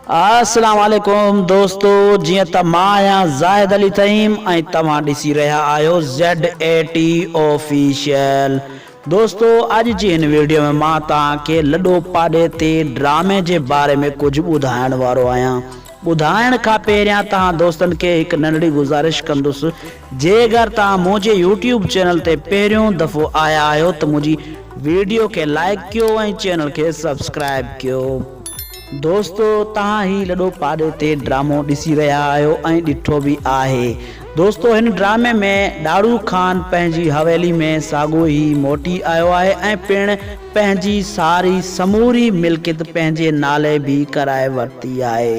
السلام عليڪم دوستو جيئن ته مان آهيان زاهد علي تيم ۽ توهان ڏسي رهيا آهيو زيڊ اي ٽي آفيشل دوستو اڄ جي هن ويڊيو ۾ مان توهان کي لڏو پاڏي تي ڊرامي جي باري ۾ ڪجهه ٻڌائڻ وارو آهيان ٻڌائڻ کان پهريان توهان دوستن کي هڪ ننڍڙي گذارش ڪندس جيڪر توهان منهنجي يوٽيوب چينل تي پهريون دفعو آيا آهيو ته منهنجي ويڊيو کي لائيڪ ڪيو ۽ چينل کي سبسڪرائيب ڪيو دوستو توهان هي لڏو پاڏي تي ڊرامو ڏسي رهيا آهيو ۽ ڏٺو به آهي دوستو هن ڊرامي ۾ ڏاڙهو خان پنهنجي حويلي ۾ ساڳو ئي موٽي آيو آهي ۽ پڻ پنهنجي ساري سموري ملڪيت پنهنجي نالي به ڪرائي ورتي آهي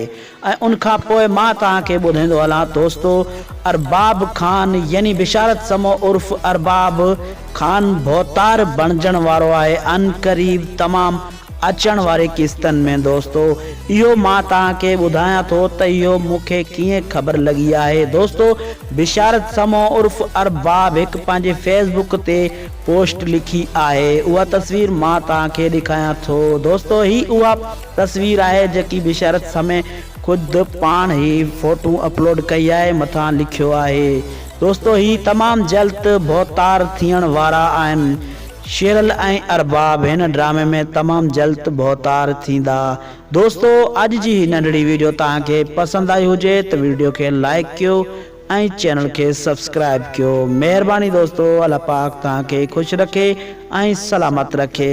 ۽ ان کان پوء مان توهان کي ٻڌائيندو هلان دوستو ارباب خان يعني بشارت سمو عرف ارباب خان ڀوتار بڻجڻ وارو آهي عنقريب تمام اچڻ واري قسطن ۾ دوستو اهو مان توهان کي ٻڌايان ٿو ته اهو مون کي ڪيئن خبر لڳي آهي دوستو بشارت سمو عرف ارباب هڪ پنهنجي فيس بڪ تي پوسٽ لکي آهي اها تصوير مان توهان کي ڏيکايان ٿو دوستو هي اها تصوير آهي جيڪي بشارت سمي خود پاڻ هي فوٽو اپلوڊ ڪئي آهي مٿان لکيو آهي دوستو هي تمام جلد ڀوتار ٿيڻ وارا آهن شيرل ۽ ارباب هن ڊرامي ۾ تمام جلت ڀوتار ٿيندا. دوستو اڄ جي هي ننڍڙي ويڊيو توهان کي پسند آئي هجي ته ويڊيو کي لائيڪ ڪيو ۽ چينل کي سبسڪرائيب ڪيو مهرباني دوستو الله پاڪ توهان کي خوش رکي ۽ سلامت رکي.